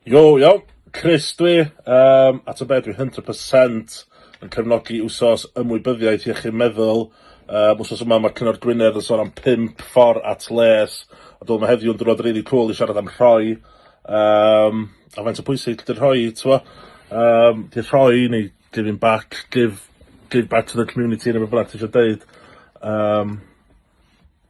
Yo, iawn. Chris dwi, yym, a t'o' be' dwi hundred percent yn cefnogi wsos ymwybyddiaeth iechyd meddwl, yym wsos yma ma' Cyngor Gwynedd yn sôn am pump ffor at les, a dwi me'wl ma' heddiw'n diwrnod rili cŵl i siarad am rhoi, yym a faint o pwysig 'di'r rhoi t'mo', yym 'di'r rhoi neu giving back, give give back to the community ne' be' bynnag ti isio deud, yym.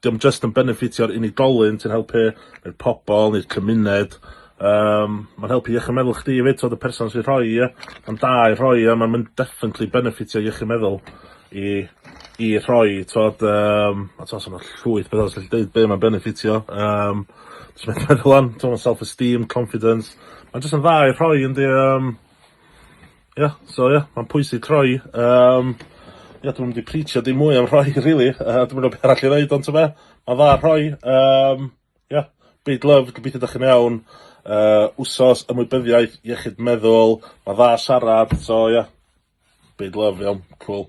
'Dio'm jyst yn benefitio'r unigolyn ti'n helpu, ne'r pobol ne'r cymuned yym ma'n helpu iechyd meddwl chdi efyd t'od y person sy'n rhoi e, ma'n da i rhoi e ma'n mynd definitely benefitio iechyd meddwl i i rhoi t'od yym a t'o' sa 'na llwyth petha fyswn i gallu deud be' ma'n benefitio yym jyst methu meddwl ŵan t'o' ma' self esteem confidence ma'n jyst yn dda i rhoi yndi yym. Ia so ia ma'n pwysig troi yym ia dwi'm 'di preechio dim mwy am rhoi rili yy dwi'm yn gwbo be' arall i ddeud on' t'be' ma'n dda rhoi yym ia big love gobeithio 'dach chi'n iawn yy wsos ymwybyddiaeth iechyd meddwl ma'n dda siarad so ia big love iawn cŵl.